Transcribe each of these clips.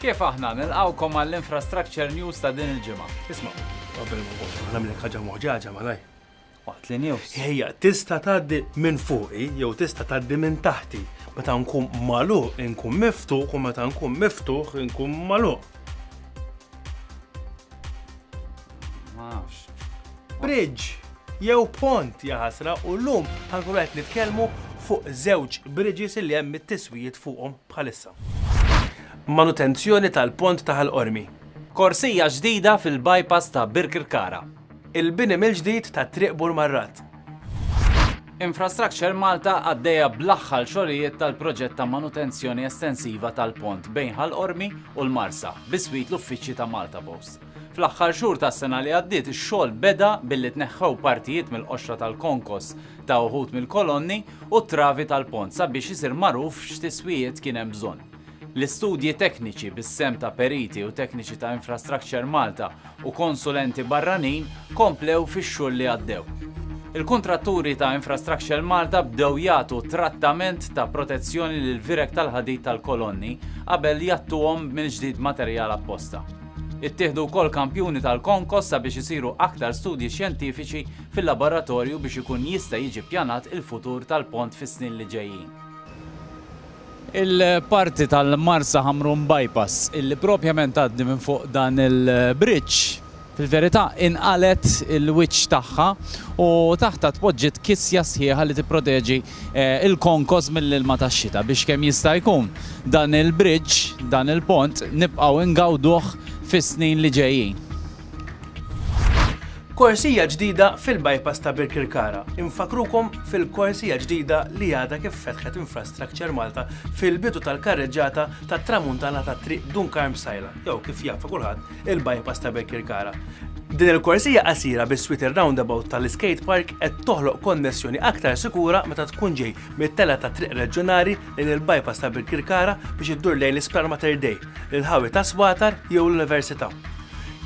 Kif aħna nilqawkom għall-Infrastructure News ta' din il-ġimgħa? Isma', qabel ma nkomplu, aħna minn ħaġa moħġaġa malaj. Waqt li news. Ejja, tista' tgħaddi minn fuqi jew tista' tgħaddi minn taħti. Meta nkun malu, nkun miftuħ u meta nkun miftuħ nkun malu. Ma nafx. Bridge jew pont jaħasra u llum ħankun qed nitkellmu fuq żewġ bridges li hemm it-tiswijiet fuqhom bħalissa. Manutenzjoni tal-pont ta' Ħal Qormi. Korsija ġdida fil-bypass ta' Birkirkara. Il-bini mill-ġdid ta' Triq Burmarrat. Infrastructure Malta għaddejja bl-aħħar xogħlijiet tal-proġett ta' manutenzjoni estensiva tal-pont bejn Ħal Qormi u l-Marsa, biswit l-uffiċċji ta' Maltapost. Fl-aħħar xhur tas-sena li għaddiet ix-xogħol beda billi tneħħew partijiet mill-qoxra tal-konkos ta' uħud mill-kolonni u t-travi tal-pont sabiex isir magħruf x'tiswijiet kien hemm bżonn. L-istudji tekniċi bis-sehem ta' periti u tekniċi ta' Infrastructure Malta u konsulenti barranin komplew fix-xhur li għaddew. Il-kuntratturi ta' Infrastructure Malta bdew jagħtu trattament ta' protezzjoni lill-vireg tal-ħadid tal-kolonni qabel jgħattuhom mill-ġdid b'materjal apposta. Ittieħdu wkoll kampjuni tal-konkos sabiex isiru aktar studji xjentifiċi fil-laboratorju biex ikun jista' jiġi ppjanat il-futur tal-pont fis-snin li ġejjin. Il-parti tal-Marsa Ħamrun Bypass illi propjament tgħaddi minn fuq dan il-bridge fil-verità inqalgħet il-wiċċ tagħha u taħtha tpoġġiet kisja sħiħa li tipproteġi il-konkos mill-ilma tax-xita biex kemm jista' jkun dan il-bridge, dan il-pont, nibqgħu ngawduh fis-snin li ġejjin. Korsija ġdida fil-bypass ta' Birkirkara Infakkrukom fil-korsija ġdida li għadha kif fetħet Infrastructure Malta fil-bidu tal-karreġġata tat-Tramuntana tat-Triq Dun Karm Sajla jew kif jafa' kulħadd il-bypass ta' Birkirkara. Din il-korsija qasira bis-swit ir-roundabout tal-iskate park qed toħloq konnessjoni aktar sikura meta tkun ġej mit-telgħa tat-triq reġjonali lejn il-bypass ta' Birkirkara biex iddur lejn l-Isptar Mater Dei, l-inħawi ta' Swatar jew l-Università.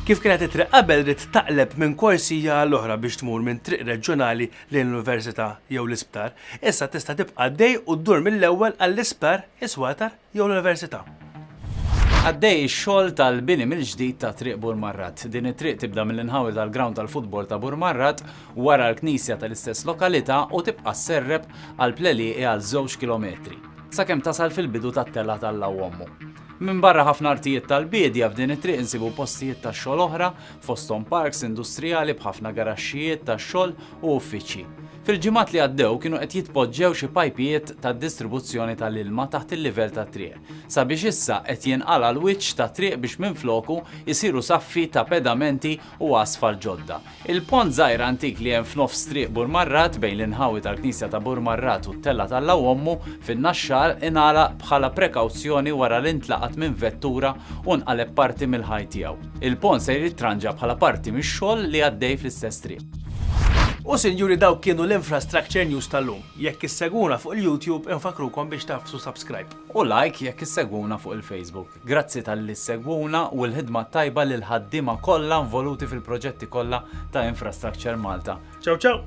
Kif kienet it-triq qabel ridt taqleb minn korsija għal oħra biex tmur minn triq reġjonali lejn l-Università jew l-Isptar, issa tista' tibqa' għaddej u ddur mill-ewwel għall-Isptar, is-Swatar. jew l-Università. Għaddej ix-xogħol tal-bini mill-ġdid ta' Triq Burmarrat. Din it-triq tibda mill-inħawi tal-grawnd tal-futbol ta' Burmarrat, wara l-knisja tal-istess lokalità u tibqa' sserrep għal Plelieqi għal żewġ kilometri, sakemm tasal fil-bidu tat-telgħa tal-Lawommu. Minbarra ħafna artijiet tal-biedja, f'din it-triq insibu postijiet tax-xogħol oħra, fosthom parks industrijali b'ħafna garaxxijiet tax-xogħol u uffiċċji. Fil-ġimgħat li għaddew kienu qed jitpoġġew xi pajpijiet tad-distribuzzjoni tal-ilma taħt il-livell tat-triq, sabiex issa qed jinqala' l-wiċċ tat-triq biex minfloku jsiru saffi ta' pedamenti u asfalt ġodda. Il-pont żgħir antik li hemm f'nofs Triq Burmarrat bejn l-inħawi tal-Knisja ta' Burmarrat u t-Tella t'Alla u Ommu fin-Naxxar ingħalaq bħala prekawzjoni wara li ntlaqat minn vettura u nqaleb parti mill-ħajt tiegħu. Il-pont ser jittranġa bħala parti mix-xogħol li għaddej fl-istess triq. U sinjuri dawk kienu l-infrastructure news tal-lum. Jekk issegwuna fuq il-YouTube infakkrukom biex tagħfsu subscribe. U like jekk issegwuna fuq il-Facebook. Grazzi talli ssegwuna u l-ħidma t-tajba lill-ħaddiema kollha involuti fil-proġetti kollha ta' Infrastructure Malta. Ciao ciao!